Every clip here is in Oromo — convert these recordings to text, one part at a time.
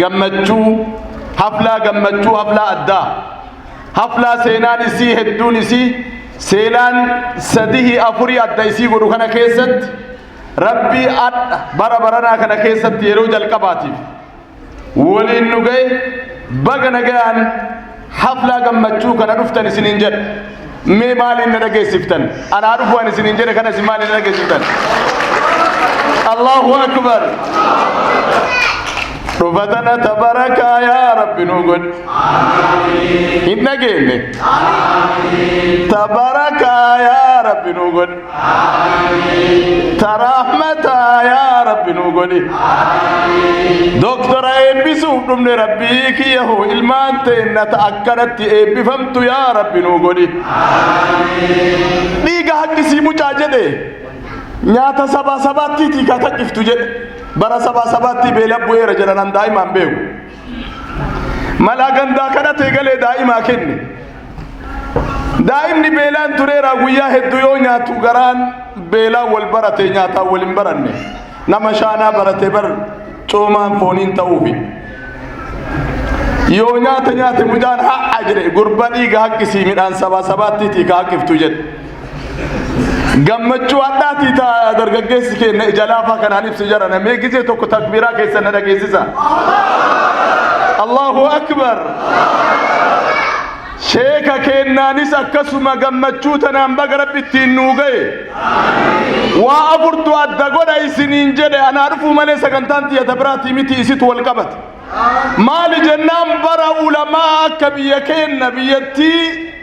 gammachuu haflaa gammachuu haflaa addaa haflaa seenaan isii hedduun isii seenaan sadihi afurii adda isii godhu kana keessatti rabbii adha bara baranaa kana keessatti yeroo jalqabaatiif woliin nu gaye baga nagayaan haflaa gammachuu kana dhuftan isiniin jedha mee maaliin na dhageessiftan anaa dhufu an isiniin jedhe kana isin maaliin na dhageessiftan allahu akbar dhufatana tabarakaa yaa rabbi nu godhe hin dhageenye tabarakaa yaa rabbi nu godhe taraahmata yaa rabbi nuu godhi doktora eebbisuuf dhumne rabbii kiyya hoo ilmaan teenna ta akkanatti eebbifamtu yaa rabbi nuu godhi dhiiga haqqisii mucaa jedhe nyaata sabaa sabaattiitii kakaqiftu jedhe bara sabaa sabaattii beela bu'eera jedhanan daa'imaan beeku Malaa gandaa kanatti eegalee daa'imaa kenne. Daa'imni beelaan tureera guyyaa hedduu yoo nyaatu garaan beelaa wal barate nyaataa wal hin baranne. Nama shaanaa barate bar coomaan fooniin ta'uufi. Yoo nyaata nyaate mucaan ha'a jedhe gurba dhiiga haqqisii midhaan sabaa sabaattiitii ka haqqiftu jedhe. gammachuu hadhaatii ta dargaggeessi keenya ija laafaa kanaan ibsu jara namee gizee tokko takbiiraa keessa na dhageessisa Allahu akbar sheeka keennaanis akkasuma gammachuu tanaan baga rabbi ittiin nuu ga'e waa afurtu adda godha isiniin jedhe anaa dhufuu malee sagantaan xiyata biraatii miti isitu wal qabate maali jennaan bara ulamaa akka biyya keenna biyyattii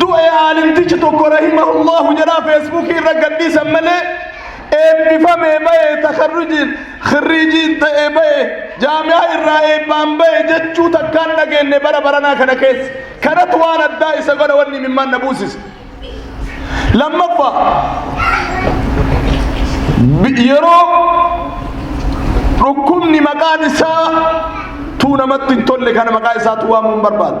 du'e aalimtichi tokko rahimahullahu jedhaa feesbuukii irra gadhiisan malee eebbifamee ba'e takarrujiin khirriijiin ta'e ba'e jaamiyaa irraa eebbaan ba'e jechuu takkaan dhageenye bara baranaa kana keessa kanatu waan addaa isa godha wanni mimmaan na buusise lammaffaa yeroo dhukkubni maqaan isaa tuu namatti hin tolle kana maqaa isaa tuu waamuun barbaadu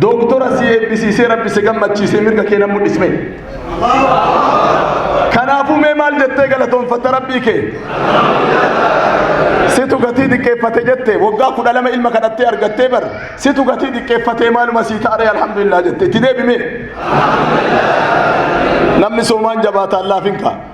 Dooktora si eebbisiisee rabbi si gammachiisee mirga kee nan mul'isme. Kanaafuu mee maal jettee galatoonfatta rabbii kee? Situ gatii xiqqeeffate jette waggaa kudha lama ilma kadhattee argattee bar situ gatii xiqqeeffatee maaluma sii taaree alhamdulillah jette itti deebime. Namni soomaan jabaataan laafin ka'a.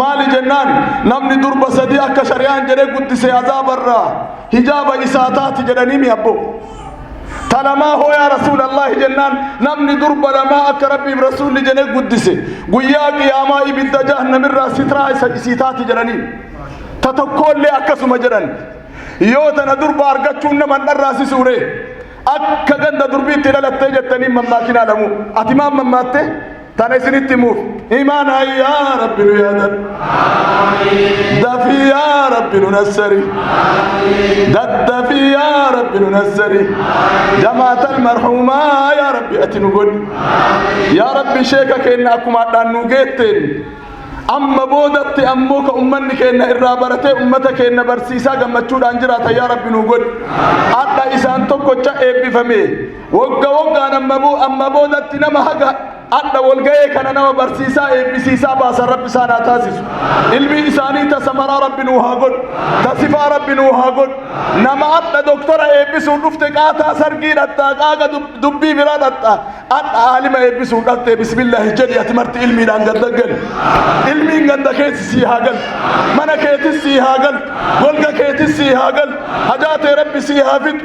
maali jennaan namni durba sadii akka shari'aan jedhe guddise azaabarraa hijaaba isaa taati jedhanii mi abbo talamaa hoo yaa rasuulallahi jennaan namni durba lamaa akka rabbiif rasuulli jedhe guddise guyyaa qiyaamaa ibidda jahannamirraa sitraa isa isii taati jedhanii ta tokkoollee akkasuma jedhan yoo tana durba argachuun nama hin dharraasisuure akka ganda durbiitti dhalattee jettanii mammaakinaa lamu ati maan mammaatte Tana isinitti himuuf imaana yaa rabbi nu yaadan dafii yaa rabbi nu nassari daddafii yaa rabbi nu nassari jamaatal marhuumaa yaa rabbi ati nu godhi yaa rabbi sheeka keenna akkuma adhaan nu geetteen amma boodatti ammoo ka ummanni keenna irraa baratee ummata keenna barsiisaa gammachuudhaan jiraata yaa rabbi nu godhi adha isaan tokkocha eebbifame Wogga woggaan amma boodatti nama haga adha wolga'ee kana nama barsiisaa eebbisiisaa baasan rabbi isaan haa taasisu. Ilmi isaanii ta samaraa rabbi nuu haa godhu. Ta sifaa rabbi nuu haa godhu. Nama adha doktora eebbisuun dhufte qaataa sargii dhaxxaa qaaqa dubbii biraa dhaxxaa adha aalima eebbisuun dhaxxee bismillaahi jedhi ati marti ilmiidhaan gadda gali. Ilmiin gadda keessi sii haa galu. Mana keetis sii haa galu. Golga keetis sii haa galu. Hajaa tee rabbi sii haa fidu.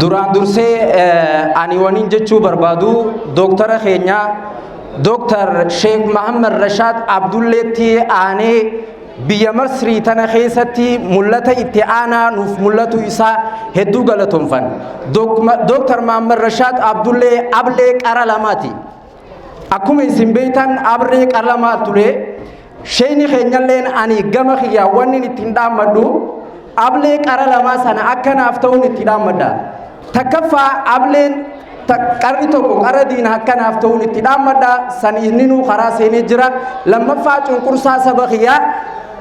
Duraan dursee ani waniin jechuu barbaadu dooktara keenya Dooktar Sheek Mahammad Rashaad Abdulleetti aanee biyya Masrii tana keessatti mul'ata itti aanaa nuuf mul'atu isaa hedduu galatoomfan. Dooktar Mahammad Rashaad Abdullee ablee qara lamaati. Akkuma isin beektan ablee qara lamaa ture. Sheeyni keenyalleen ani gama kiyyaa wannin ittiin dhaammadhu ablee qara lamaa sana akka naaf ta'uun itti dhaammadha. Takkaffaa ableen qarri tokko qara diina akka naaf ta'uun itti dhaammadha san inninuu karaa seenee jira. Lammaffaa cunqursaa saba kiyyaa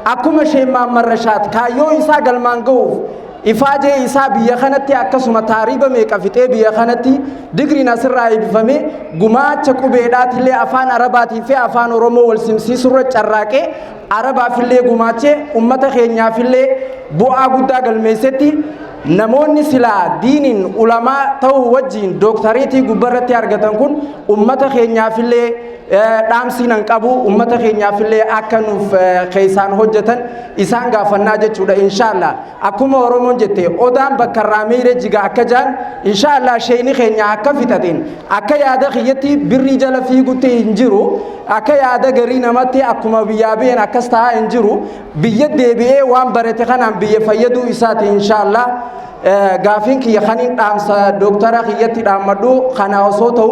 akkuma Sheek Maammarrashaad kaayyoo isaa galmaan ga'uuf Ifaajee isaa biyya kanatti akkasuma taariiba meeqa fixee biyya kanatti digriin asirraa eebifame gumaacha qubeedhaatillee afaan arabaatii fi afaan oromoo wal simsiisurra carraaqee arabaafillee gumaachee ummata keenyaafillee bu'aa guddaa galmeessetti namoonni silaa diiniin ulamaa ta'uu wajjiin dooktareetii gubbarratti argatan kun ummata keenyaafillee dhaamsii nan qabu ummata keenyaafillee akka nuuf keessaan hojjetan isaan gaafannaa jechuudha inshaallah akkuma oromoon jette odaan bakka irraa miire jiga akka jaan inshaallah sheeyni keenya akka fixateen akka yaada kiyyatti birrii jala fiigutti hin jiru akka yaada garii namatti akkuma biyyaa biyeen akkas ta'aa hin jiru biyya deebi'ee waan barate kanaan biyya fayyaduu isaati inshaallah gaafiin kiyya kaniin dhaamsa dooktara kiyyatti dhaammadhu kana osoo ta'u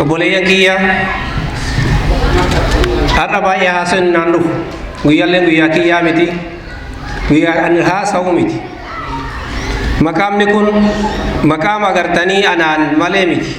obboleeyyan kiyya har'a baay'ee haasa'in naan dhufu guyyaallee guyyaa kiyyaa miti guyyaa ani haasa'u miti maqaamni kun maqaama agartanii anaan malee miti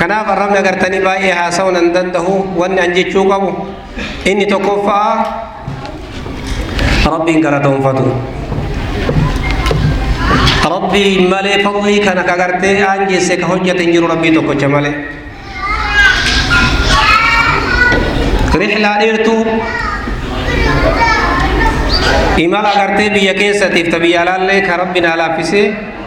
kanaaf arrabni agartanii baay'ee haasa'uun hin danda'u wanni an jechuu qabu inni tokkoffaa rabbiin galatoonfatu rabbii malee fadlii kana ka gartee aangeesse ka hojjate hin jiru rabbii tokkocha malee rihlaa dheertuu imala agartee biyya keessatiif ta biyya alaallee ka rabbi naa laaffisee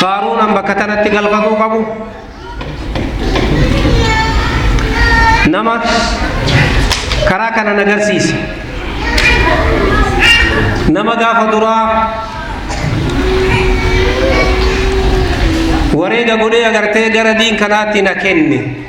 Faaruu nan bakka tanatti galfatuu qabu nama karaa kana na garsiise nama gaafa duraa wareega godhee agartee gara diin kanaatti na kenne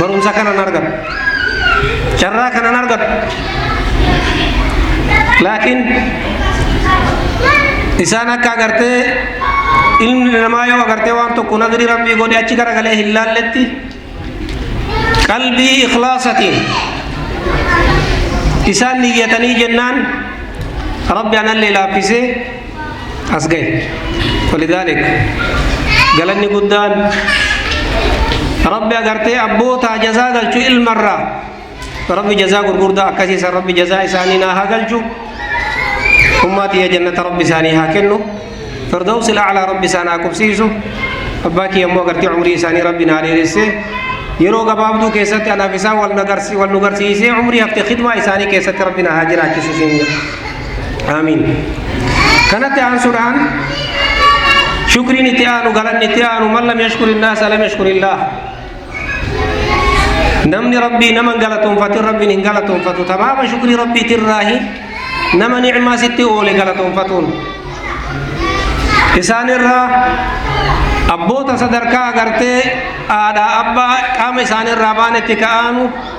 Barumsa kanan argadhu. Carraa kanan argadhu. Laakiin isaan akka agartee ilmi namaa yoo agartee waan tokko nadrii rabbii godhe achi garagalee hin laalletti qalbii ikhlaasatiin isaan niyyatanii jennaan rabbi anallee laaffisee as gahe walidhaalik galanni guddaan rabbi agartee abbootaa jazaa galchu ilmarraa rabbi jazaa gurgurdaa akkasiisan rabbi jazaa isaanii naa haa galchu ummaa tiyya jannata rabbi isaanii haa kennu firdawsi laclaa rabbi isaan haa qubsiisu abbaa kiyya immoo agartee umrii isaanii rabbi naa dheeresse yeroo gabaabduu keessatti anaaf isaan wal nu garsiisee umrii hafte khidmaa isaanii keessatti rabbi naa haa jiraachisu siin jedha Aamiin. Kanatti aansuudhaan shukriin itti aanu galanni itti aanu man lam yashkuri naasa lam yashkurillah. Namni rabbii nama hin galatoonfatin rabbiin hin galatoonfatu tamaama shukrii rabbiitirraahi nama nicmaa sitti oole galatoonfatuun. Isaanirraa abboota sadarkaa agartee haadhaa abbaa qaama isaanirraa baanetti ka'aanu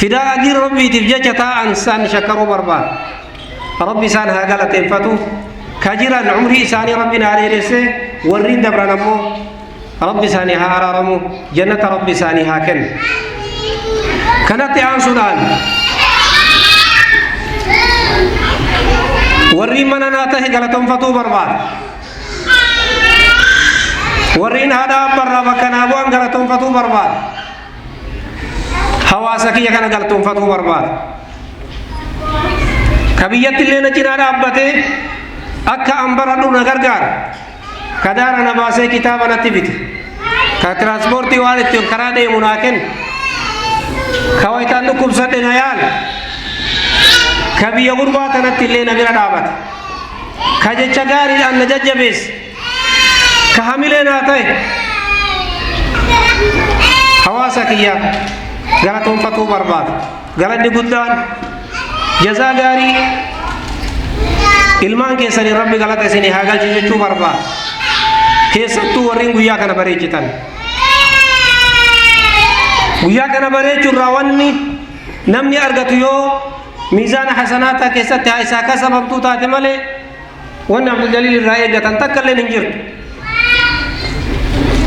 fidaa adii rabbiitiif jecha taa'an isaan shakkaruu barbaada rabbi isaan haa galateeffatu ka jiran umrii isaanii rabbiin haa dheeresse warri dabran ammoo rabbi isaanii haa araaramu jannata rabbi isaanii haa kennu kanatti aansuudhaan warri mana naa tahe galateeffatuu barbaada warri haadha abbarraa bakka naa bu'an galateeffatuu barbaada hawaasa kiyya kana galtoonfatuu barbaada. Ka biyyatti illee na cinaa dhaabbatee akka an baradhu na gargaara. Ka daara na baasee kitaaba natti bite. Ka tiraanspoortii waan ittiin karaa deemu naa kenna. Ka wayitaan dhukkubsadhe na yaala. Ka biyya gurbaa tanatti illee na bira dhaabata. Ka jecha gaariidhaan na jajjabeessa. ka hamilee naa ta'e hawaasa kiyya galatoonfatuu barbaada galanni guddaan jazaa gaarii ilmaan keessanii rabbi galata isinii haa galchu jechuu barbaada keessattuu warriin guyyaa kana bareechitan guyyaa kana bareechuu irraa wanni namni argatu yoo miizaana hasanaataa keessatti haa isaa kasabamtuu taate malee Wanni Abduljaliil irraa eeggatan takka illee hin jirtu.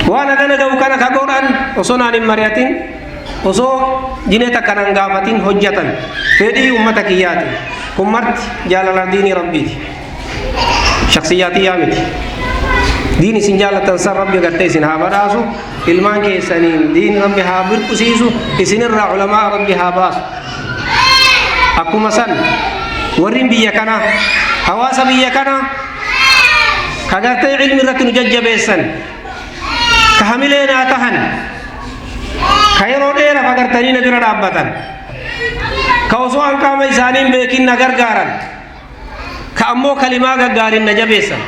Waan hagana ga'u kana ka godhan osoo naan hin mari'atin osoo jinee takka naan gaafatin hojjetan fedhii ummata kiyyaati. Kun marti jaalala diinii rabbiiti. Shaksiyyaa tiyyaa miti. Diin isin jaallattan san rabbi gartee isin haa badhaasu ilmaan keessaniin diin rabbi haa birqusiisu isinirraa ulamaa rabbi haa baasu. Akkuma san warri biyya kana hawaasa biyya kana ka gartee ilmi irratti nu jajjabeessan ka hamilee naa tahan ka yeroo dheeraaf agartanii na bira dhaabbatan ka osoo an qaama isaanii hin beekin na gargaaran ka ammoo kalimaa gaggaarin na jabeessan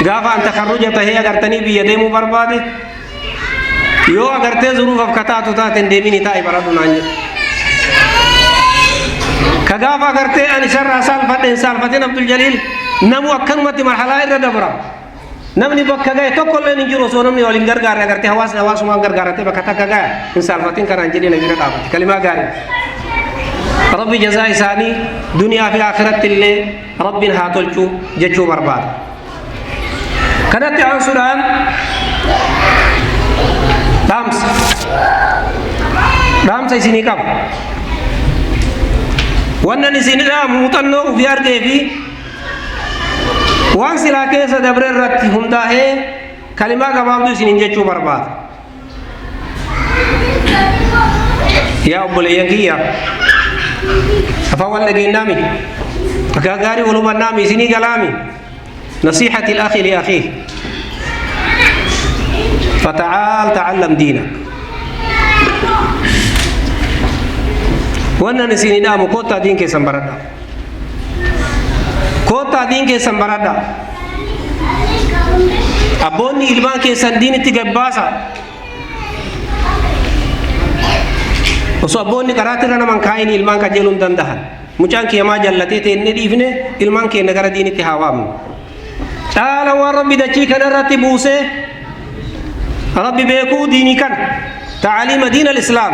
gaafa an takarruja tahee agartanii biyya deemuu barbaade yoo agartee zuruufaf ka taatu taate hin deemini taa'i baradhu naan jedhe ka gaafa agartee an isarraa saalfadhe hin saalfatin abdul jaliil namu akkanumatti marhalaa irra dabra Namni bakka gahe tokko illee hin jiru osoo namni wal hin gargaarre agartee hawaasni hawaasumaan gargaarratee bakka takka gahe hin saalfatin kanaan jedhee na bira dhaabatti kalimaa gaarii. Rabbi jazaa isaanii duniyaa fi akhiratti illee rabbiin haa tolchu jechuu barbaada. Kanatti aansuudhaan dhaamsa dhaamsa isinii qaba. Wannan isinidha muuxannoo ofii argee fi Waan silaa keessa dabre irratti hundaa'ee kalimaa gabaabduu isiniin jechuu barbaada. Yaa obboleeyyan kiyya afaan wal dhageenyaami akka gaarii wal hubannaami isinii galaami nasiihati akhi li akhi fata'aal ta'allam diina wannan isinii dhaamu kottaa diin keessan baradhaa. Koottaa diin keessan baradha. Abboonni ilmaan keessan diinitti gabbaasa. Osoo abboonni karaatti irra naman kaa'in ilmaan qajeeluu hin danda'an. Mucaan kiyamaa jallatee teennee dhiifne ilmaan keenya gara diinitti haa waamnu. Caala waan rabbi dachii kanarratti buusee rabbi beekuu diinii kana ta'aliima diin al-islaam.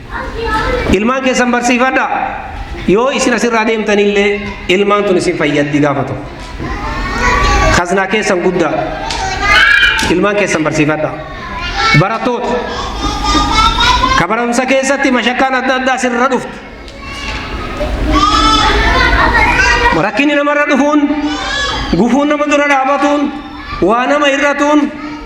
Ilmaan keessan barsiifadha. Yoo isin asirraa deemtanillee ilmaan tun isin fayyaddi gaafa ta'u. Kaznaa keessan guddaa. Ilmaan keessan barsiifadha. Barattoota. Ka barumsa keessatti mashakkaan adda addaa sirra dhuftu. Rakkinni namarra dhufuun, gufuun nama dura dhaabatuun, waa nama irratuun,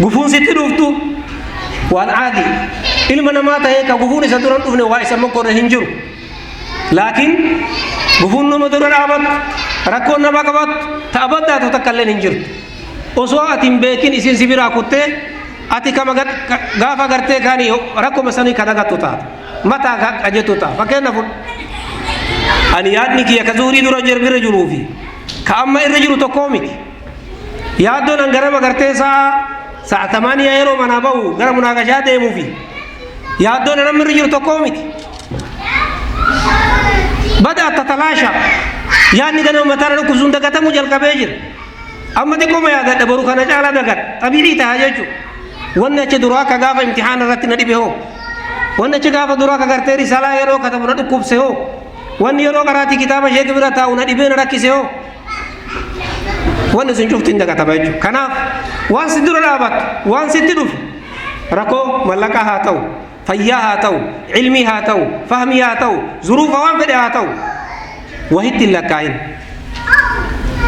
Gufuun sitti dhuftu waan aadi. Ilma namaa ta'ee ka gufuun isa dura hin dhufne waa isa mokkorre hin jiru. Laakiin gufuun nama dura dhaabattu rakkoon nama qabattu ta'a baddaatu takka illee hin jirtu. Osoo ati hin beekin isin si biraa kuttee ati kama gaafa gartee kaani rakkuma sanii ka dagattu taata. Mataa ka qajettu ta'a. Fakkeenyaaf ani yaadni kiyya ka zuurii dura jirra jiruufi ka amma irra jiru tokkoo miti. Yaaddoon an ganama gartee sa'a sa'a tamaaniyaa yeroo manaa ba'u gara munaaqashaa deemuu fi yaaddoon an amma irra jiru tokkoo miti. Bada atta talaasha yaadni ganama mataa na dhukkubsuun dagatamuu jalqabee jira. Amma xiqqooma yaadadha boru kana caalaa dagadha xabiicii ta'a jechuudha. Wanni achi duraa akka gaafa imtixaana irratti na dhibe hoo. Wanni achi gaafa duraa akka gartee risalaa yeroo katabu na dhukkubse hoo. Wanni yeroo qaraatii kitaaba sheekii bira taa'u na dhibee na rakkise hoo. wanni sun cufti hin dagatama jechuudha. Kanaaf waan si dura dhaabattu, waan sitti dhufu rakkoo mallaqaa haa ta'u, fayyaa haa ta'u, ilmii haa ta'u, fahmii haa ta'u, zuruufa waan fedhe haa ta'u wahitti hin lakkaa'in.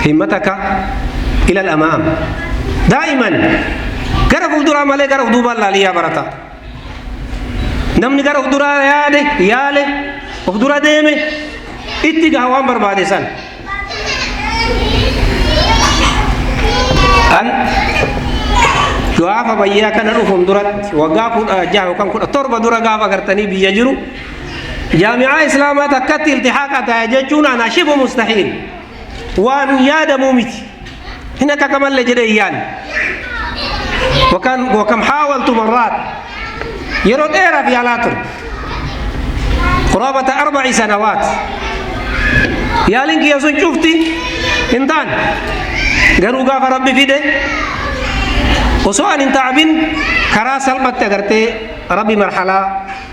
Himmataka ilal amaam. Daa'iman gara fuulduraa malee gara duubaan laalii yaa barataa. Namni gara of duraa yaade, yaale, of dura deeme, itti gaha waan barbaade san. An gaafa bayyaa kana dhufuun duratti waggaa kudha jaha yookaan kudha torba dura gaafa gartanii biyya jiru jaami'aa islaamaa takkatti iltihaaqa ta'a jechuun anaa shibu mustahiil. waan yaadamuu miti hin akakamalle jedhe hin yaanne wakan wakam haawaltu marraat yeroo dheeraaf yaalaa ture quraabata arbaci sanawaat yaaliin kiyya sun cufti hin taane garuu gaafa rabbi fide osoo an hin taabin karaa salphatti agartee rabbi marhalaa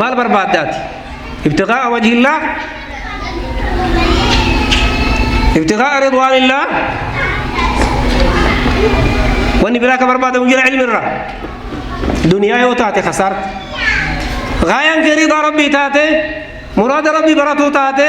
maal barbaadda ati ibtiqaa'a wajhillaah ibtiqaa'a ridwaanillaah wanni biraa ka barbaadamu jira ilmi irraa duniyaa yoo taate kasaarta gaayaan kee ridaa rabbii taate muraada rabbii baratuu taate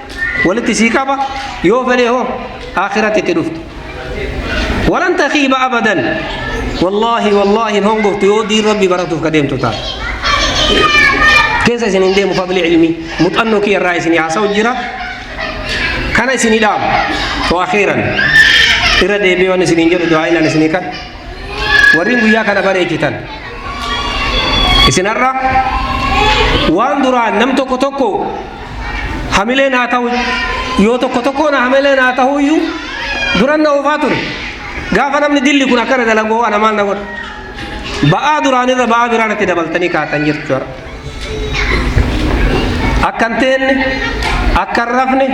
walitti sii qaba yoo fedhe hoo akhiratti itti dhufta walan takiiba abadan wallaahi wallaahi hin hongoftu yoo diin rabbi baratuuf ka deemtu taate keessa isin hin deemu fadli ilmii muxannoo kiyya irraa isin haasa'u jira kana isin hidhaamu to akhiiran irra deebi'ee waan isin hin jedhu du'aa'ilaan isin kan warri guyyaa kana bareechitan isin har'a waan duraan nam tokko tokko hamileen haa ta'u yoo tokko tokkoon hamileen haa ta'u iyyuu duran na oofaa ture gaafa namni dilli kun akkana dalagoo ana maal na godha ba'aa duraanirra ba'aa biraa natti dabaltanii kaatan jirtu jara akka hin teenne akka hin rafne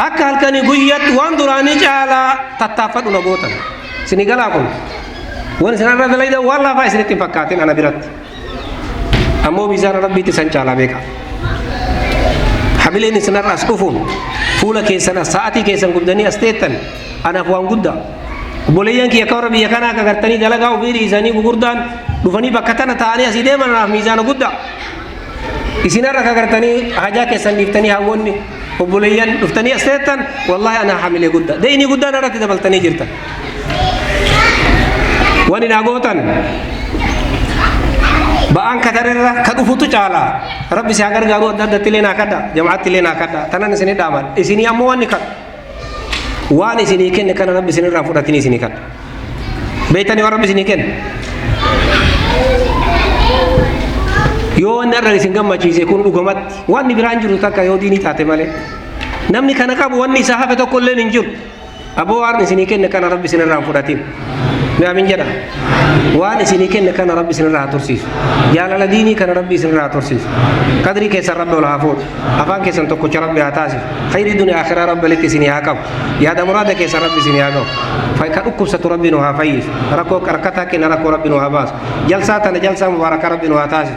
akka halkanii guyyatti waan duraanii caalaa tattaaffadhu na gootan isinii galaa kun waan isin irra dalaydan waan laafaa isinitti hin fakkaatin ana biratti ammoo miizaana rabbiitti san caalaa beeka hamileen isinarra as dhufuun fuula keessan as sa'atii keessan gubdanii as teettan anaaf waan guddaa obboleeyyan kiyya akka warra biyya kanaa akka gartanii dalagaa ofii dhiisanii gugurdaan dhufanii bakka tana ta'anii asii deeman anaaf miizaana guddaa isinarra akka gartanii hajaa keessan dhiiftanii hawwoonni obboleeyyan dhuftanii as teettan wallaahi anaa hamilee guddaa deeyinii guddaan irratti dabaltanii jirtan wani naa gootan ba'aan kadarerra ka dhufutu caala rabbi si haa gargaaru adda addatti illee naa kadha jamaatti illee naa kadha tanan isinii dhaaman isinii ammoo wanni kadha waan isinii kenne kana rabbi isinirraa fudhatin isinii kadha beektanii waan rabbi isinii kenne yoo wanni irra isin gammachiise kun dhugumatti wanni biraan jiru takka yoo diinii taate malee namni kana qabu wanni isaa hafe tokko illee hin jiru aboo waan isinii kenne kana rabbi isinirraa hin fudhatin gaamin jedha waan isinii kenne kana rabbi isinirraa haa tursiisu jaalala diinii kana rabbi isinirraa haa tursiisu qadrii keessan rabbi ol haa fuudhu afaan keessan tokkocha rabbi haa taasisu khayrii duniyaa akhiraa rabbi walitti isinii haa qabu yaada muraada keessan rabbi isinii haa qabu Fay- ka dhukkubsatu rabbi nu haa fayyisu rakkoo rakkataa kenna rakkoo rabbi nu haa baasu jalsaa tana jalsaa mubaaraka rabbi nu haa taasisu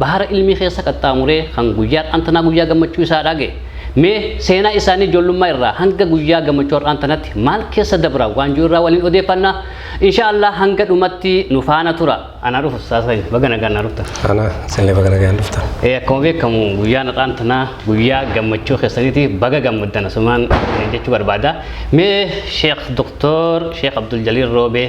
Bahara ilmii keessa qaxxaamuree kan guyyaa har'aan tanaa guyyaa gammachuu isaa dhaage. Mee seenaa isaanii ijoollummaa irraa hanga guyyaa gammachuu har'aan tanatti maal keessa dabra waan jiru irraa waliin odeeffanna. Insha Allah hanga dhumatti nu faana tura. Anaa dhufu ustaaz keenya baga nagaan naa dhuftan. Ana sillee baga nagaan dhuftan. Ee akkuma beekamu guyyaan har'aan tanaa guyyaa gammachuu keessaniiti baga gammaddan asumaan jechuu barbaada. Mee Sheekh Doktor Sheekh Abdul Jaliil Roobee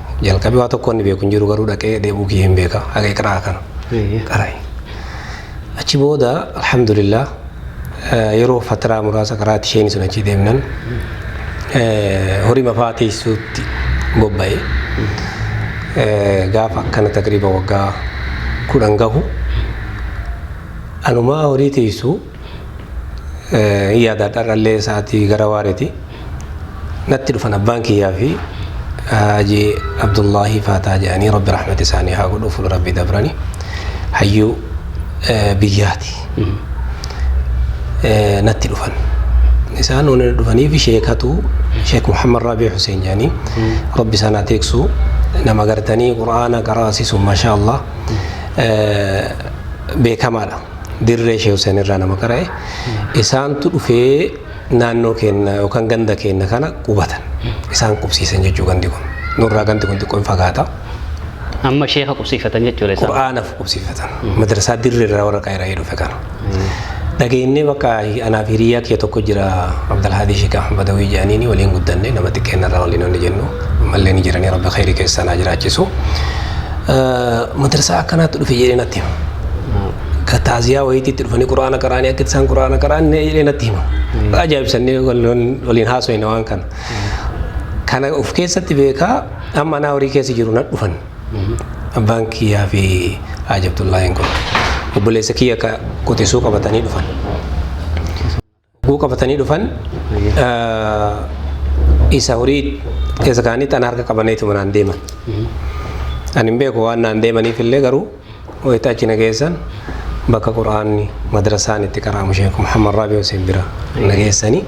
Jalqabi waa tokko inni beeku hin jiru garuu dhaqee dheebuu kiyya hin beeka haga iqraa kana Eeyyee. qaray. Achi booda alhamdulillah eh, yeroo fatiraa muraasa qaraati isheen sun achi deemnan eh, horii mafaa teessuutti bobba'e. Eh, Gaafa akkana takriiba waggaa kudhan gahu anumaa horii teessu Yaada har'allee sa'aatii gara waareeti. Natti dhufan abbaan kiyyaa fi Haji Abdullahi Faataa jedhanii Rabbi rahmata isaanii haa godhu fuula Rabbi dabrani. Hayyuu biyyaati. Natti dhufan. Isaan waan dhufaniif sheekatu Sheek Muhammad Raabii Hussein jedhanii Rabbi isaan haa teeksu nama gartanii Qur'aana qaraasisu mashaa Allah beekamaadha. dirree Sheeh Huseen irraa nama qara'e isaantu dhufee naannoo keenya yookaan ganda keenya kana qubatan isaan qubsiisan jechuu gandi kun nurraa gandi kun xiqqoo hin fagaata Amma sheeka qubsiifatan jechuudha isaan. qura'aanaaf qubsiifatan madrasaa dirree irraa warra qayra'ee dhufe kana dhageenyee bakka anaaf hiriyaa kee tokko jira Abdalhaadii Sheek Ahmad Badawii jedhaniini waliin guddanne nama xiqqeennarraa waliin hojjennu ammallee ni jiranii rabbi khayrii keessaa naa jiraachisu madrasaa akkanaatti dhufe jedhee natti hima. Ka taaziyaa wayiitti itti dhufanii quraana qaraanii akka isaan quraana qaraan jedhee natti hima. Ajaa'ibsannee waliin haasofne waan kana. Kana of keessatti beekaa amma anaa horii keessa jiru na dhufan. Abbaan kiyyaa fi Haaj Abdullaahiin kun obboleessa kiyya ka qotisuu qabatanii dhufan. Hogguu qabatanii dhufan isa horii keessa kaanii xana harka qabaneetuma naan deeman. Ani hin beeku waan naan deemaniif illee garuu wayita achi na geessan bakka quraanni madrasaan itti qaraamu sheekh Muhammad Raabii Hussein bira na geessanii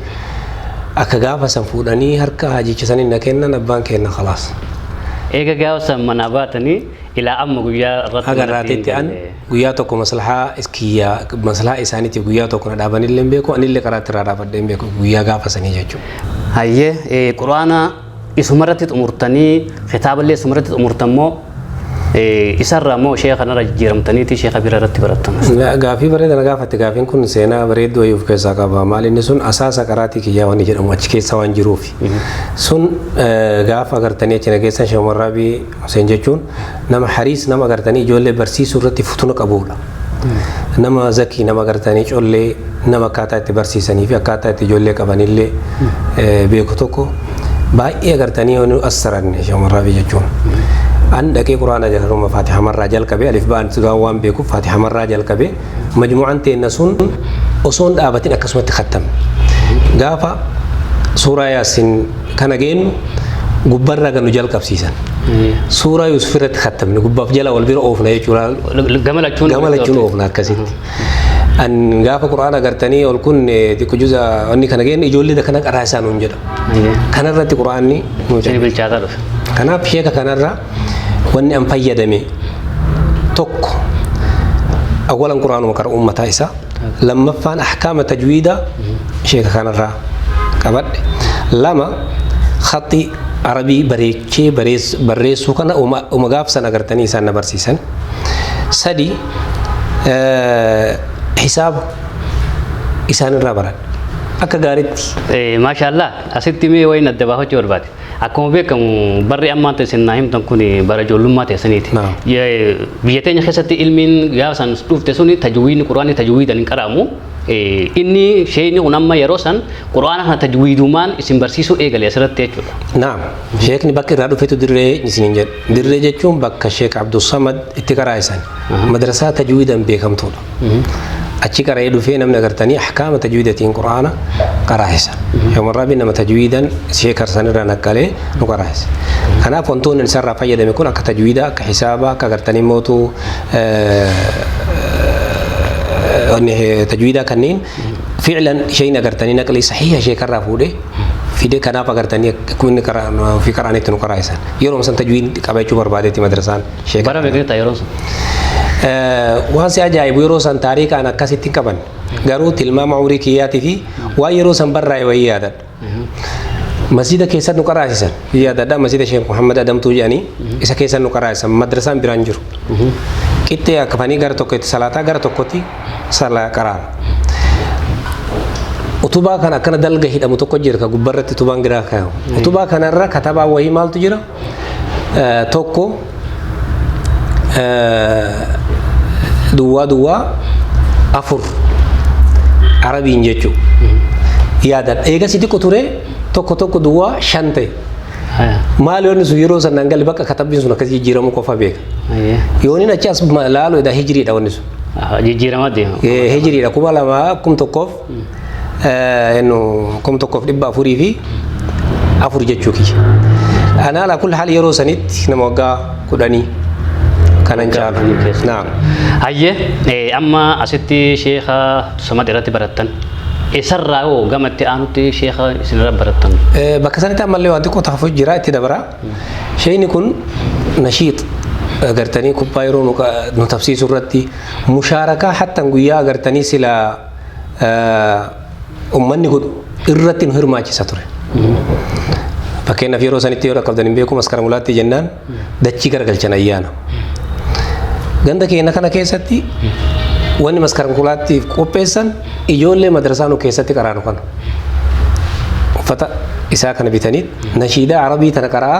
akka gaafa san fuudhanii harka haajicha saniin na kennan abbaan kenna khalaas. Eega gaafa san manaa baatanii ilaa amma guyyaa irratti Haga irraatitti an guyyaa tokko maslahaa kiyya maslahaa isaaniitiif guyyaa tokko na dhaabanillee hin beeku anillee karaatti irraa dhaabadhee hin beeku guyyaa gaafa sanii jechuudha. Hayyee eh, quraana isumarratti xumurtanii kitaaballee isumarratti xumurtan moo eh, isarraa moo sheeka kanarra jijjiiramtaniiti sheeka bira irratti barattan. Ga- Gaafii bareeda na gaafatte gaafiin kun seenaa bareedduu wayii of keessaa qaba maal inni sun asaasa qaraatii kiyyaa waan jedhamu achi keessa waan jiruuf sun eh, gaafa agartanii achi na keessan shamarraabii Huseen jechuun nama hariis nama gartanii ijoollee barsiisuu irratti futuna qabuudha. Nama zakii nama gartanii collee nama akkaataa itti barsiisanii fi akkaataa itti ijoollee qabanillee eh, beeku tokko baay'ee gartanii yoo nu assaranne shamarraafi jechuun. An dhaqee quraana jalaruma faatihamarraa jalqabee alif ba'an waan beekuuf faatihamarraa jalqabee majmu'aan teenna sun osoo hin dhaabatin akkasumatti khattame gaafa suuraa yaasin kana geennu gubbarraa ganu jalqabsiisan suuraa yuusuf irratti khattamne gubbaaf jala wal bira oofna jechuudha Gama lachuun gama lachuun oofna akkasitti an gaafa qur'aana gartanii ol kun xiqqo juza wanni kana geennu ijoollee kana qaraa isaan hin jedha kanarratti qur'aanni nu Isin bilchaataa dhufe. Kanaaf sheeka kanarra wanni an fayyadame tokko awwalan quraanuma qara ummataa isaa lammaffaan ahkaama tajwiidaa sheeka kanarraa qabadhe lama khaxii arabii bareechee bareess- barreessuu kana uma uma gaafsan agartanii isaan na barsiisan sadi eh, hisaaba isaanirraa baradhe akka gaaritti Eh, Maashaallah asitti mee wayiin adda baafachuu barbaade. Akkuma beekamu barri ammaan ta'e isin naa himtan kun bara ijoollummaa teessaniiti. Naam. Ye- Biyya teenya keessatti ilmiin gaafa san dhufte sun tajwiidni quraanni tajwiidaan hin qaraamu. Eh, Inni sheeyni kun amma yeroo san quraana kana tajwiidumaan isin barsiisuu eegale asirratti jechuudha. Naam. Sheekni bakka irraa dhufetu dirree isiniin jedhu. Dirree jechuun bakka Sheek Abdulsamad itti qaraa'isan. Madrasaa tajwiidaan beekamtuudha. achi qara'ee dhufee namni agartanii ahkaama tajwiidatiin quraana qaraahisa yooman rabbi nama tajwiidan sheekarsan irraa naqqalee nu qaraahisa kanaaf wantoonni isarraa fayyadame kun akka tajwiida akka hisaaba akka agartanii mootu tajwiidaa kanneen fiilan isheen agartanii naqlii sahiha sheekarraa fuudhee fide kanaaf agartanii akkuma inni ofii qaraanetti nu qaraahisan yeroo san tajwiid qabachuu barbaadetti madrasaan Bara meeqa jetta yeroo sun? Waan si ajaa'ibu yeroo san taariikaan akkasitti hin qaban. Garuu tilmaama umrii kiyyaatii fi waan yeroo san barraa'e wayii yaadadha. Masjida keessatti nu qaraasisan. Yaadadha masjida Sheekh Muhammad Adamtuu jedhanii isa keessatti nu qaraasisan madrasaan biraan jiru. Qixxee akkafanii gara tokko itti salaataa gara tokkotti salaa qaraan. Utubaa kan akkana dalga hidhamu tokko jira ka gubbarratti utubaan giraa kaayamu. Utubaa kanarra katabaa wayii maaltu jira? tokko duwwaa duwwaa afur arabiin jechuu yaadan eega si xiqqo ture tokko tokko duwwaa shan ta'e maal yoonni sun yeroo sanaan gali bakka katabbiin sun akkas jijjiiramuu qofa beeka yooniin achi as laalu edaa hijiriidha wanni sun jijjiirama deema hijiriidha kuma lamaa kum tokkoof Ennu kum tokkoof dhibba afurii fi afur jechuu kiyya. Anaa laa kul haal yeroo sanitti nama waggaa kudhanii kanan caalu. kudhanii keessa. Naam. Hayyee eh, amma asitti sheekha samad irratti barattan isarraa hoo gama itti aanutti sheekha isinirra barattan Eh, Bakka sanitti ammallee waan xiqqoo taafuu jira itti dabara. Sheeyni kun nashiix agartanii kubbaa yeroo nu qa- nu tapsiisu irratti mushaarakaa hattan guyyaa agartanii sila ummanni godhu irratti nu hirmaachisa ture. Fakkeenyaaf yeroo sanitti yoo dhaqqabdan hin beeku maskara mulaatti jennaan dachii garagalchan ayyaana. Ganda keenya kana keessatti wanni maskara mulaattiif qopheessan ijoollee madrasaa nu keessatti qaraanu kana. Uffata isaa kana bitanii nashiidaa arabii tana qaraa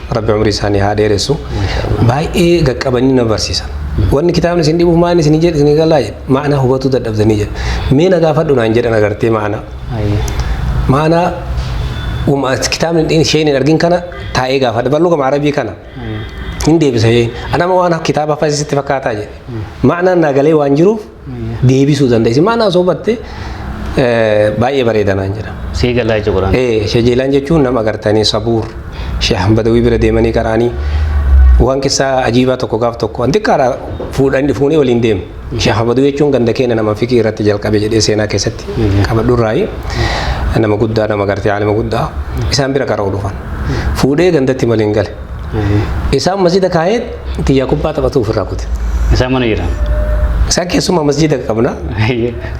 rabbi umrii isaanii haa dheeressu baay'ee gaqqabanii na barsiisan wanni kitaabni isin dhibuuf maal isin jedhe isin galaa jedhe maanaa hubatuu dadhabdanii jedhe mee na gaafadhu naan jedhan agartee maanaa maanaa uma kitaabni dhin- isheen hin argin kana taa'ee gaafadha bal'uu gama arabii kana hin deebisa jee anama waan kitaaba hafasitti fakkaataa jedhe maanaan naa galee waan jiruuf deebisuu dandeessi. Maal haasoofatte baay'ee bareeda naan jedha. Sii galaa jecha Quraan. Ee shejeelaan jechuun nama agartanii sabuur sheehan badawii bira deemanii qaraanii waan keessaa ajiibaa tokko gaaf tokko an xiqqaadha fuudhan fuunee waliin deemu. Sheehan badawii jechuun ganda keenya nama fikii irratti jalqabe jedhee seenaa keessatti qabadhurraayi nama guddaa nama agartee aalima guddaa isaan bira qara'u dhufan. Fuudhee gandatti maliin gale. Isaan masjida kaa'ee Tiyyaa kubbaa taphatu ofirraa kute. Isaan mana jiran. Isaan keessumaa masjiida qabna.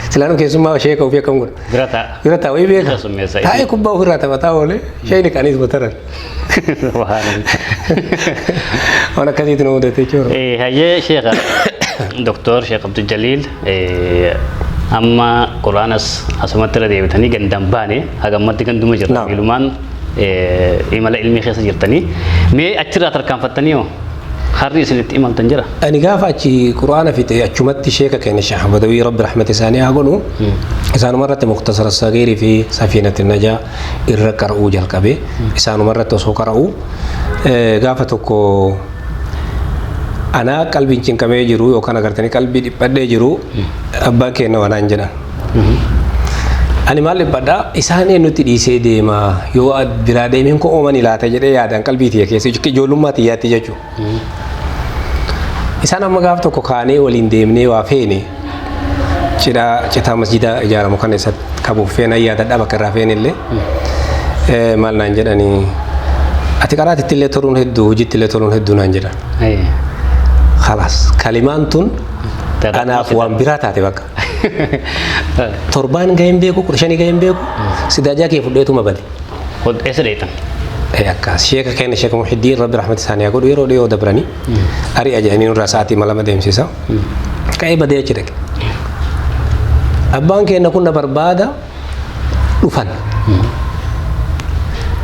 Silaan keessumaa sheeka ofii akkam godha. Bira ta'a. Bira ta'a wayii beeka. Summeessa. Taa'ee kubbaa ofirraa taphataa oolee sheekni kaanis bataran. Waan akkasiitu nu mudate jechuudha. Hayyee sheeka Doktor Sheek Abdul Jaliil amma Quraanas asumatti irra deebitanii gandaan baane hagammatti ganduma jirra. Naam. Bilumaan imala ilmii keessa jirtanii mee achirraa tarkaanfattanii hoo harri isinitti imaltan jira. Ani gaafa achi Qur'aana fixe achumatti sheeka keenya Sheekh Badawii Rabbi rahmata isaanii haa godhu isaanuma irratti muktasara sagiirii fi safiinati najaa irra qara'uu jalqabe isaanuma irratti osoo qara'u gaafa tokko anaa qalbiin cinqamee jiru yookaan agartanii qalbii dhiphadhee jiru abbaan keenya wanaan jedhan. Ani maal dhibbadha isaan eenyutti dhiisee deema yoo biraa deemeen koo oomani laata jedhee yaadaan qalbii tiyya keessa ijoollummaa tiyyaatti jechuudha. Isaan amma gaaf tokko kaanee waliin deemnee waa feene cidhaa citaa masjidaa ijaaramu kana isa qabuuf feena yaadadha bakka irraa feene illee maal naan jedhanii ati qaraatitti illee toluun hedduu hojiitti illee toluun hedduu naan jedhan. Khalaas kalimaan tun anaaf waan biraa taate bakka. Torbaan gahee hin beeku, kudha shanii gahee hin beeku, sidaajaa kee fudheetuma bade. Ol eessa dheetan? Eh, Akkas sheeka keenya sheeka Muhiddiin rabbi rahmata isaanii haa godhu yeroo dhiyoo dabranii ari'a jedhanii nurraa sa'aatii malama deemsisa. Ka'ee badee achi dhaqe. Abbaan keenya kun na barbaada dhufan.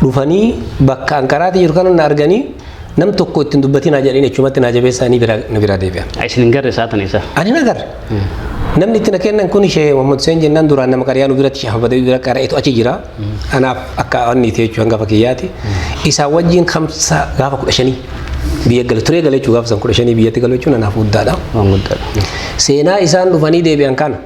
Dhufanii bakka anqaraati jiru kana na arganii nam tokko ittiin dubbatinaa jedhanii achumatti naa jabeessaanii biraa- na biraa deebi'an. Isin hin garre saatan isaa. Ani na garre. Namni itti na kennan kun ishee Muhammad Hussein jennaan duraan nama qariyaa nu biratti shafa badawii bira qara'etu achi jira. Anaaf akka wanni ta'e jechuudha hangafa kiyyaati. Isaa wajjin kamsa gaafa kudha shanii biyya gale turee gale jechuudha gaafa san kudha shanii biyyatti galu jechuun anaaf guddaadha. Waan guddaadha. Seenaa isaan dhufanii deebi'an kana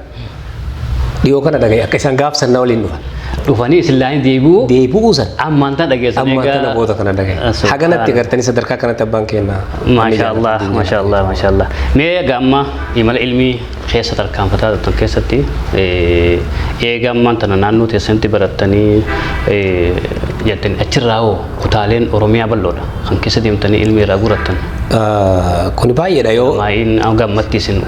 dhiyoo kana dhagaye akka isaan gaaf sannaa waliin dhufan. Dhufanii islaanii deebi'uu Deebi'uu san ammaan tana dhageessan amma kana booda kana dhagaye. Haganatti gartanii sadarkaa kanatti abbaan kennaa. Maashaa Allah, maashaa Allah, maashaa Allah. Mee egaa amma Imala ilmi keessa tarkaanfataa jirtan keessatti eega ammaan tana naannoo teessanitti barattanii jettanii achirraa hoo kutaaleen Oromiyaa bal'oodha kan keessa deemtanii ilmi irraa gurattan. Kuni baay'eedha yoo. Maa'iin hanga ammatti isin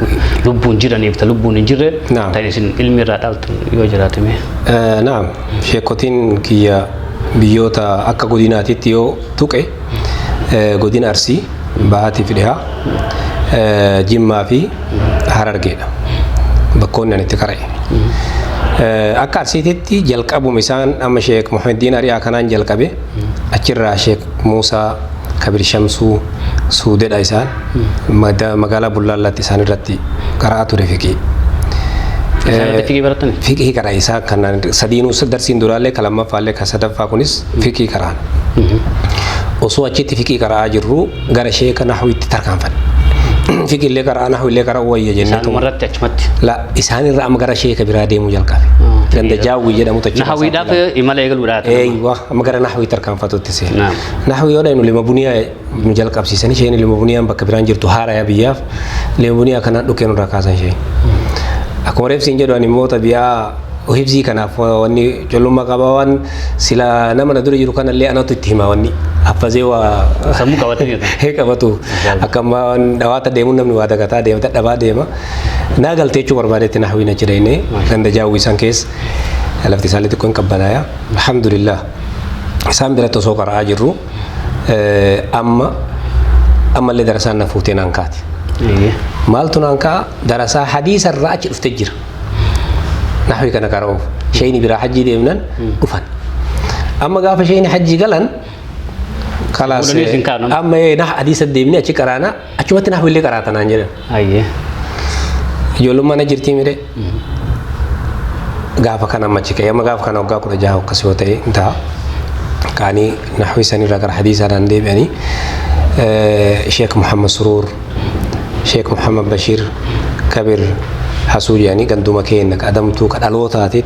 lubbuun jiraniif ta lubbuun hin jirre Naam. ta isin ilmi irraa dhaaltan yoo jiraate mee. Eh, Naam, sheekotiin kiyya biyyoota akka godinaatitti yoo tuqe eh, godina Arsii Bahaatiif dhihaa Jimmaa fi Harargeedha. Bakkoonni ani itti qara'e. Akka Arsiititti jalqabuma isaan amma Sheek Muhammaddiin Ari'aa kanaan jalqabe achirraa Sheek Muusaa Kabir Shamsuu Suudedha isaan magaalaa Bullaallaatti isaan irratti qara'aa ture fiqii. Fiqii barattan? Fiqii qara'e isaan kanaan sadiinuu darsiin duraallee ka lammaffaallee ka sadaffaa kunis fiqii qara'an. osoo achitti fiqii qara'aa jirru gara sheeka nahuwitti tarkaanfanne fiqiillee qara'aa nahuwiillee qara'uu wayya jennee Isaanuma irratti achumatti. la isaan irra amma gara sheeka biraa deemuu jalqabe ganda jaawwii jedhamu tachi Nahawiidhaaf imala eegaluudhaaf. eeywa amma gara nahuwii tarkaanfatutti seena Naam. nahuwii yoo dhaynu lima buniyaa nu jalqabsiisan isheen Limovuniyaan bakka biraan jirtu haaraya biyyaaf Limovuniyaa kanaan dhukkee nurraa kaasan ishee. Akkuma reefsiin jedhu ani immoo tabiyaa hibzii kanaaf wanni collummaa qabaa waan sila nama na dura jiru kanallee anatu itti hima wanni haffazee waa Sammuu qabatee jirta. hee qabatu akka ammaa waan dhawaata deemuun namni waa dagataa deema dadhabaa deema naa galtee jechuu barbaadetti naa hawwiina jedheenee ganda jaawwii san keessa lafti isaanii xiqqoo hin qabbanaaya alhamdulillah isaan biratti osoo qara'aa jirru amma ammallee darasaan na fuutee naan kaate. Maaltu naan ka'a darasaa hadiisa irraa achi dhufte jira. Nahwi kana karaa oofu. Sheeyni biraa hajjii deemnan dhufan. Amma gaafa sheeyni hajjii galan kalaas Fuudhanii isin kaanu. amma ee nah hadiisa deemnee achi qaraana achumatti nahwi illee qaraata naan jedhan. Ayyee. Ijoolleen mana jirtii mire gaafa kana amma achi ka'e amma gaafa kana waggaa kudha jaha akkas yoo ta'e hin ta'a. Kaanii naxwii sanirra gara hadiisaadhaan deebi'anii Sheek Muhammad Suruur, Sheek Muhammad Bashiir, Kabir Hasuu jedhanii ganduma keenya ka adamtuu ka dhalootaati.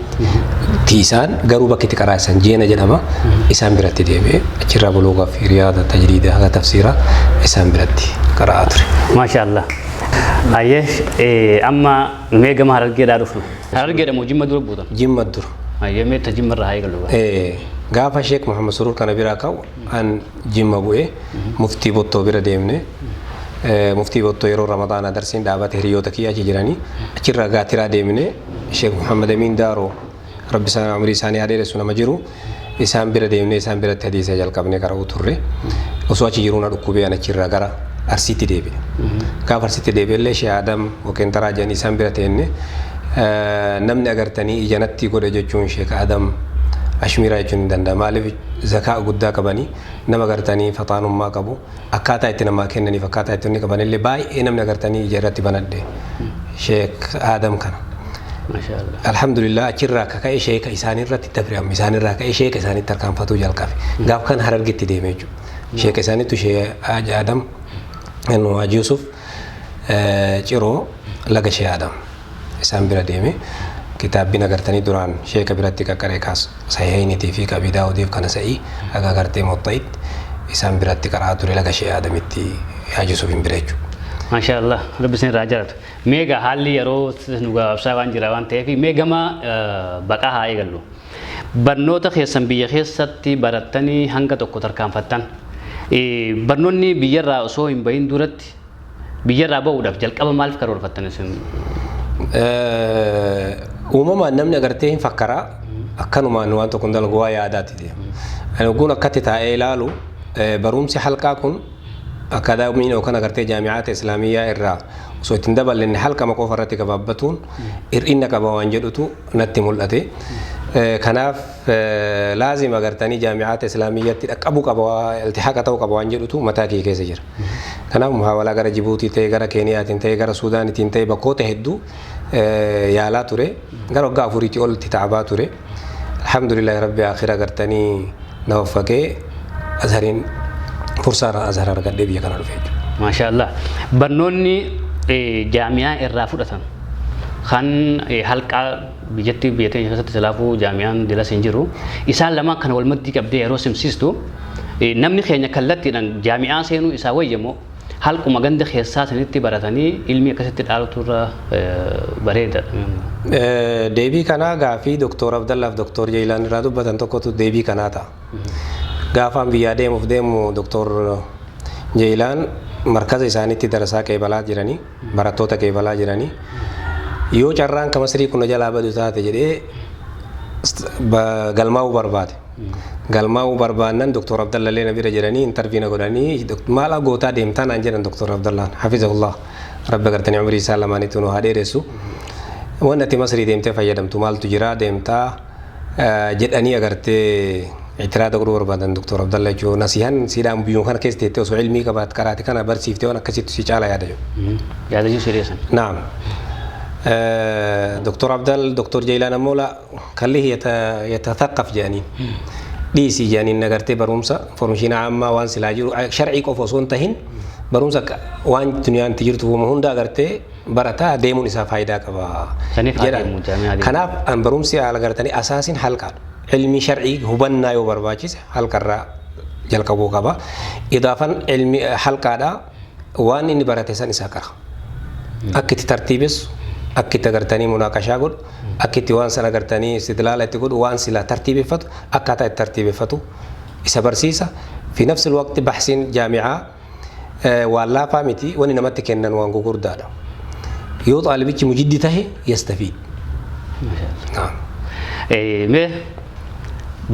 tiisaan garuu bakki itti qaraa isaan jeena jedhama isaan biratti deebi'e achirraa buloogaa fi riyaada tajriida haga tafsiira isaan biratti qara'aa ture. Maashaallah. Ayyee eh, amma mee gama harargeedhaa dhufna. Harargeedha moo jimma dura buutan? Jimma dura. Ayyee mee ta jimma irraa haa eegalu. Eh, gaafa Sheek Muhammad Surur kana biraa ka'u An Jimma bu'e. Muftii Bottoo bira deemne. Muftii Bottoo yeroo Ramadaanaa darsiin dhaabate hiriyoota kiyya achi jiranii. Achirraa Gaatiraa deemne. Sheek Muhammad Amiin Daaroo Rabbi isaan umrii isaanii haa dheeressu nama jiru. Isaan bira deemne isaan biratti hadiisa jalqabne qara'uu turre. Osoo achi jiruu na dhukkubee an achirraa gara Arsiitti deebi'e. Gaafa Arsiitti deebi'e illee Sheek Adam Waqeenxaraa jedhanii isaan bira teenne. Namni agartanii ija natti godhe jechuun Sheek Adam Ashmiiraa jechuun ni danda'a. Maaliif zakaa guddaa qabani nama gartanii faxaanummaa qabu akkaataa itti namaa kennaniif akkaataa itti inni qabanillee baay'ee namni agartanii ija irratti banadhe sheek aadam kana Masha Allah. alhamdulillah achirraa akka ka'e sheeka isaanirratti dabre amma isaanirraa ka'e sheeka isaanitti tarkaanfatuu jalqabe gaaf kan harargitti deeme jechuudha sheeka isaanittu shee aadam Haji Yusuf Ciroo laga Shee Adam isaan bira deeme. Kitaabbiin agartanii duraan sheeka biratti qaqqaree kaas sahihayniti fi qabii daawudiif kana sa'i aga agartee muwaxxa'it isaan biratti qara'aa ture laga Shee Adamitti Haaj Yusufiin bira jechuudha. Maashaa Allah rabbi isin irraa jaalatu. Mee egaa haalli yeroo nu gabaabsaa waan jira waan ta'eef mee gama baqaa haa eegallu. barnoota keessan biyya keessatti barattanii hanga tokko tarkaanfattan barnoonni biyyarraa osoo hin bahin duratti biyyarraa ba'uudhaaf jalqaba maaliif karoorfattan isin? Uumamaan namni agartee hin fakkaraa akkanumaan waan tokko hin dalagu waa yaadaati deema. Ani ogguun akkatti taa'ee ilaalu barumsi halqaa kun akaadaamiin yookaan agartee jaami'aata islaamiyyaa irraa osoo ittiin daballinne halkama qofa irratti gabaabbatuun hir'ina qaba waan jedhutu natti mul'ate. Kanaaf laazima gartanii jaami'aata islaamiyyatti dhaqqabu qaba iltihaqa ta'u qaba waan jedhutu mataa kiyya keessa jira. Kanaaf muhaawalaa gara Jibuutii ta'e gara Keeniyaatiin ta'e gara Suudaanitiin ta'e bakkoota hedduu yaalaa ture. Gara waggaa afuriitii oltti ta'abaa ture. Alhamdulillah rabbi akhira gartanii na waffaqee asariin fursaarraa azhar argadhee biyya kana dhufe jechuudha. Maashaallah. Barnoonni eh, jaami'aa irraa fudhatan kan eh, halqaa biyyatti biyya teenya keessatti silaafuu jaami'aan dilas hin jiru. Isaan lamaan kana wal maddii qabdee yeroo simsiistu eh, namni keenya kallattiidhaan jaami'aa seenuu isaa wayyamoo halkuma ganda keessaa sanitti baratanii ilmii akkasitti dhaalutu irra bareeda. Deebii kanaa gaafii Doktor Abdallaaf Doktor Jeeyilaan irraa dubbatan tokkotu deebii kanaa ta'a. Gaafaan biyyaa deemuuf deemu Doktor Jeeyilaan markaza isaaniitti darasaa qeebalaa jiranii. barattoota kee falaa jiranii yoo carraan ka masrii kun na jalaa badu taate jedhee st- ba- galmaa'uu barbaade. Galmaa'uu barbaannan Dr. Abdallallee na bira jiranii intarvii na godhanii "Dok- maal gootaa deemtaa naan jedhan Dr. Abdallaan hafizahullah rabbi gartanii umrii isaa lamaanitti nu haa dheeressu. Waan ati masrii deemtee fayyadamtu maaltu jira deemtaa jedhanii agartee itiraada godhuu barbaadan Dr. Abdalla jechuun nasihan siidhaan biyyoon kana keessa teettee osoo ilmii qabaat qaraate kana barsiiftee waan akkasitti si caala yaada jiru. Yaada jiru siree san. Naam. Dr. Abdal Dr. Jaylaan ammoo la kallih yatathaqaf jedhaniin. Dhiisii jedhaniin agartee barumsa formishiina ammaa waan silaa jiru sharcii qofa osoo hin tahin barumsa waan duniyaan itti jirtu hunda agartee barataa deemuun isaa faayidaa qaba Saniif haa jedhan. deemu, jaami'aa deemu. Kanaaf an barumsi haala gartanii asaasin halqa ilmii shar'ii hubannaa yoo barbaachise halqarraa jalqabuu qaba. Idaafan ilmi halqaadha waan inni barate san isaa qara. Akka itti tartiibessu, akka itti agartanii munaaqashaa godhu, akka itti waan san agartanii istidlaala itti godhu, waan silaa tartiibeffatu akkaataa itti tartiibeffatu isa barsiisa. Fi nafsil waqti bahsiin jaami'aa waan laafaa miti wani namatti kennan waan gugurdaadha yoo xaalibichi mujiddi tahe yastafiid mee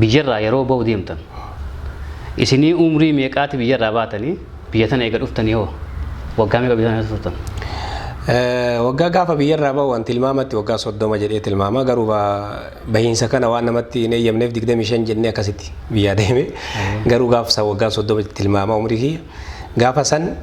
biyyarraa yeroo ba'u deemtan isinii umrii meeqaati biyyarraa baatanii biyya tana eega dhuftanii hoo waggaa meeqa biyya tana turtan waggaa gaafa biyyarraa ba'u waan tilmaamatti waggaa soddoma jedhee tilmaama garuu Bahiinsa kana waan namatti hin eeyyamneef 25 jennee akkasitti biyyaa deeme. Garuu gaafa san waggaan 30 tilmaama umrii kiyya. Gaafa san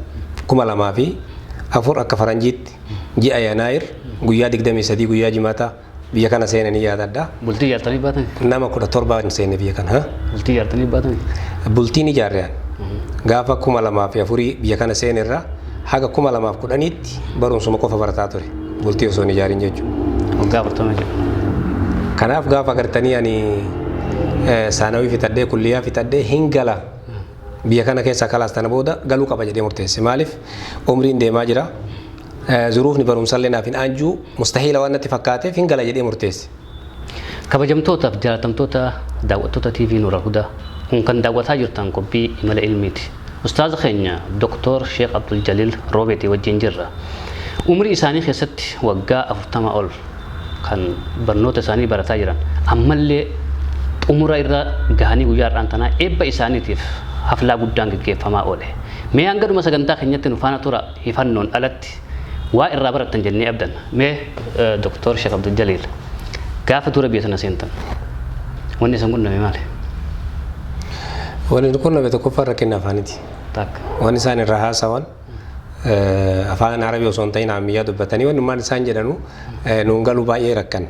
2004 akka faranjiitti ji'a Yanaayir guyyaa 23 guyyaa jimataa biyya kana seene ni yaadadha. Bultii ijaartanii baatan? Nama 17 seene biyya kana. ha? Bultii ijaartanii baatan? Bultiin ijaarreen gaafa 2004 biyya kana seenerra haga 2010tti Achitti barumsuma qofa barataa ture. Bultii osoo hin ijaarin jechuudha. Waggaa afurtama jechuudha. Kanaaf gaafa agartanii ani saanawii fixadhee kulliyyaa fixadhee hin gala. Biyya kana keessaa kalaas tana booda galuu qaba jedhee murteesse. Maaliif umriin deemaa jira. Zuruufni barumsallee naaf hin aanjuu mustahiila waan natti fakkaateef hin gala jedhee murteesse. Kabajamtoota fi jaalatamtoota daawwattoota TV Nuura Hudaa, kun kan daawwataa jirtan qophii Imala Ilmiiti. Ustaaza keenya Doktoor Sheek Abdul Jaliil Roobeetii wajjin jirra. Umrii isaanii keessatti waggaa 40 ol kan barnoota isaanii barataa jiran ammallee xumura irra gahanii guyyaa har'aan tanaa eebba isaaniitiif haflaa guddaan geggeeffamaa oole. Mee hanga dhuma sagantaa keenyatti nu faana tura. hifannoon alatti waa irraa barattan jennee abdanna. Mee Doktar Sheikh Abdul Jaliil gaafa dura biyya tana seentan wanni isin qunname maali? Wanni nu qunname tokkoffaa rakkinni afaaniti. Takka. Waan isaan irraa haasawan afaan Arabii osoo hin ta'in Amiyyaa dubbatanii wannummaan isaan jedhanu nuun galuu baay'ee rakkanne.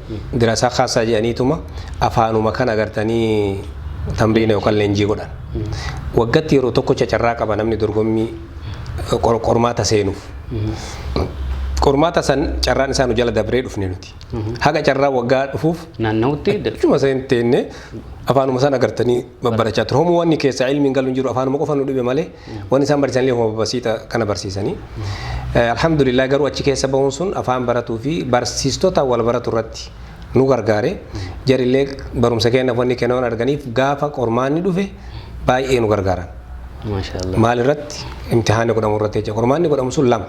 Dirasaa khaasaa jedhaniituma afaanuma kana agartanii tamriina yookaan leenjii godhan. Waggatti yeroo tokkocha carraa qaba namni dorgommii qor- qormaata seenuuf. Qormaata san carraan isaa nu jala dabree dhufne nuti. Haga carraa waggaa dhufuuf Naanna'utti dir- Achuma seen teenne afaanuma san agartanii babbarachaa ture. Homu wanni keessaa ilmiin galu hin jiru afaanuma qofa nu dhibe malee Wanni isaan barsiisan illee homa basiita kana barsiisanii. Alhamdulillah garuu achi keessa bahuun sun afaan baratuu fi barsiistota wal baratu irratti nu gargaare. Jarillee barumsa kennaaf wanni kenna waan arganiif gaafa qormaanni dhufe baay'ee nu gargaaran. Maal irratti imtihaanni godhamu irratti jecha qormaanni godhamu sun lama.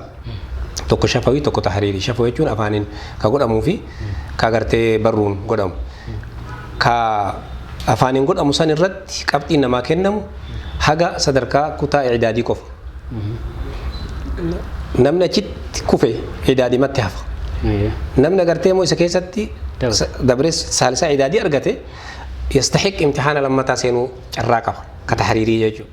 Tokko shafawii tokko tahriirii. Shafoo jechuun afaaniin ka godhamuu fi ka agartee barruun godhamu. Ka afaaniin godhamu san irratti qabxiin namaa kennamu haga sadarkaa kutaa idaadii qofa. Namni achitti kufe idaadimatti hafa. Namni agartee immoo isa keessatti dabree saalisaa idaadii argate yastahiq imtixaana lammataa seenuu carraa qaba. Ka tahriirii jechuudha.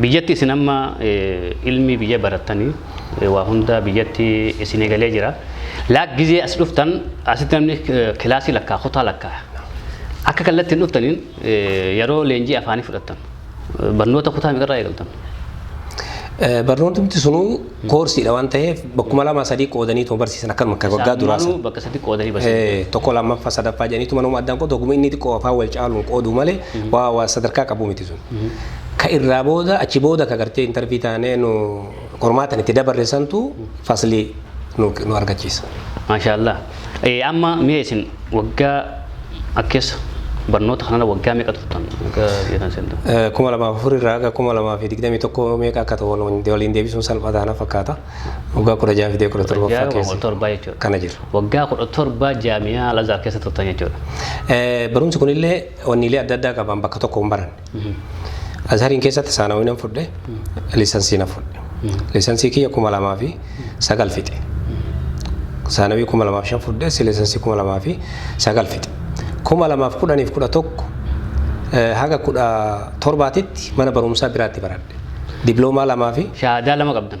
Biyyatti isin amma ilmi biyya barattani waa hunda biyyatti isin egalee jira. Laak gizee as dhuftan asitti namni kilaasii lakkaa kutaa lakkaa akka kallatti hin dhuftaniin yeroo leenjii afaanii fudhattan barnoota kutaa meeqarraa eegaltan? Barnoota miti sunuu Koorsiidha waan ta'eef bakkuma lama sadii qoodanii tuma barsiisan akkanuma akka waggaa duraa sana. bakka sadi qoodanii barsiisan. Tokko lammaffaa sadaffaa jedhaniitu manuma addaan qoodu oguma inni xiqqoo afaan wal caaluun qoodu malee waa waa sadarkaa qabu miti sun. Ka irraa booda achi booda ka gartee intarvii taanee nu qormaatan itti dabarre santu faslii nu argachiisa. Maashaallah. Ee, amma mee isin waggaa akka keessa barnoota kanarra waggaa meeqa turtan? Waggaa biyya seentan. Eh, kuma lamaa fi afur irraa haga kuma lamaa fi digdamii tokko meeqa akka ta'u wal- waliin deebisuun salphaa taana fakkaata. Waggaa kudha jaha fidee kudha torbaffaa Jaha kudha keessa torbaa jechuudha. kana jira. Waggaa kudha torbaa jaamiyaa Alazar keessa turtan jechuudha. Eh, Barumsi kunillee wanniilee adda addaa qaban bakka tokko hin baranne. Azhariin keessatti saanawii nan fudhe, liisansii nan fudhe. Liisansii kiyya kuma lamaa fi sagal fixe. Saanawii kuma lamaa fi shan fudhe, si liisansii kuma lamaa fi sagal fixe. Kuma lamaa fi kudhaniif kudha tokko eh, haga kudha torbaatitti mana barumsaa biraatti baradhe. Diploomaa lamaa fi Shahaadaa lama qabdan.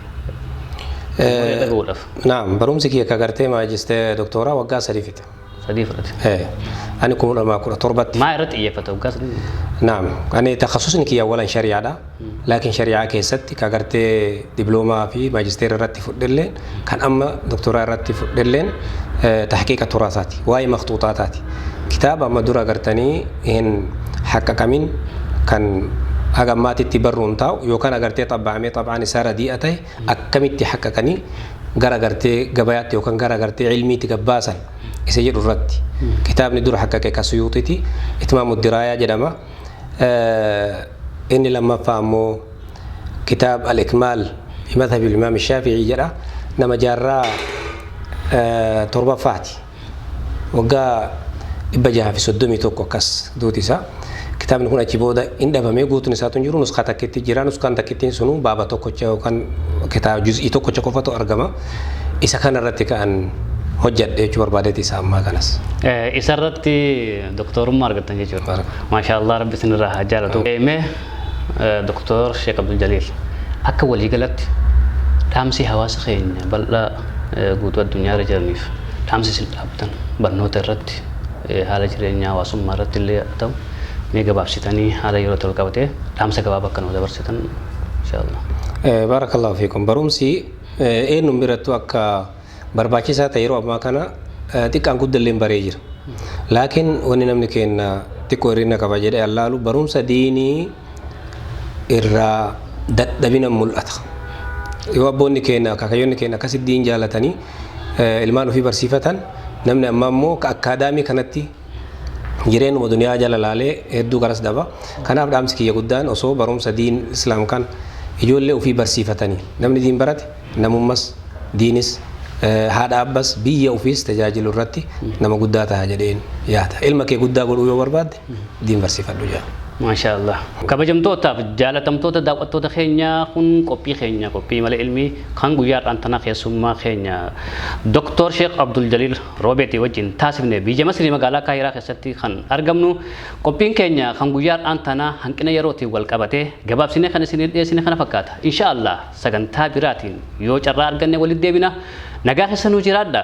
Namoonni dhaga'uudhaaf. Naam, barumsi kiyya akka gartee maajistee doktooraa waggaa sadii fixe. Sadii fudhate. Eh, Ani kuma lamaa kudha torbatti. Maa irratti xiyyeeffata waggaa sadii? Naam, ani takhasusni kiyya awwalan shari'aadha. Laakiin shari'aa keessatti ka gartee diploomaa fi maajisteera irratti fudhelleen kan amma doktooraa irratti fudhelleen tahqiiqa turaasaati. Waa'ee maktuuxaataati. kitaaba amma dura agartanii hin haqqaqamin kan haga ammaatitti barruun taa'u yookaan agartee xabbaa'amee xab'aan isaa radii'a ta'e akkamitti haqqaqanii gara agartee gabayaatti yookaan gara agartee ilmiitti gabbaasan isa jedhu irratti kitaabni dura haqqaqe ka suyuuxiti itmaamu diraayaa jedhama inni lammaffaa ammoo kitaab al-ikmaal madhabi imaam shaafi'ii jedha nama jaarraa torbaffaati waggaa 631 akkas duuti isaa. Kitaabni kun achi booda hin dhabamee guutuun isaatu hin jiru nuskaa takkitti jira nuskaan takkittiin sunuu baaba tokkocha yookaan kitaaba juz'ii tokkocha qofatu argama. Isa kana irratti ka'an hojjedhe jechuu barbaadeeti isa ammaa kanas. Isa irratti doktorummaa argattan jechuudha. Maashaallah rabbi isinirraa haa jaalatu. Mee doktor Sheek Abdul Jaliil akka waliigalatti dhaamsi hawaasa keenya bal'aa guutuu addunyaa irra jiraniif dhaamsi isin dhaabtan barnoota irratti haala jireenyaa hawaasummaa irratti illee haa ta'u mee gabaabsitanii haala yeroo tol qabatee dhaamsa gabaabaa akka nuu dabarsitan inshaallah. Baarakallahu fiikum barumsi eenyuun birattuu akka barbaachisaa ta'e yeroo ammaa kana xiqqaan guddalleen baree jira. Laakiin wanni namni keenna xiqqoo hir'ina qaba jedhee allaalu barumsa diinii irraa dadhabina mul'ata. Yoo abboonni keenya akaakayyonni keenya akkas iddiin jaalatanii ilmaan ofii barsiifatan namni ammaa immoo ka akkaadaamii kanatti jireenuma duniyaa jala laalee hedduu garas daba. Kanaaf dhaamsi kiyya guddaan osoo barumsa diin islaam kan ijoollee ofii barsiifatanii namni diin barate namummas diinis haadha abbas biyya ofiis tajaajilu irratti nama guddaa ta'a jedheen yaada. Ilma kee guddaa godhuu yoo barbaadde diin barsiifadhu jedha. Maashaa Allah. Kabajamtootaaf jaalatamtoota daawwattoota keenya kun qophii keenya qophii mala ilmii kan guyyaa har'aan tanaa keessummaa keenya Dr. Sheekh Abdul Jaliil Roobeetii wajjin taasifne biyya Masrii magaalaa Kaayiraa keessatti kan argamnu qophiin keenya kan guyyaa har'aan tanaa hanqina yerootiin wal qabatee gabaabsinee kan isiniif dhiyeessine kana fakkaata. Inshaa Allah sagantaa biraatiin yoo carraa arganne walitti deebina nagaa keessa nuu jiraadha.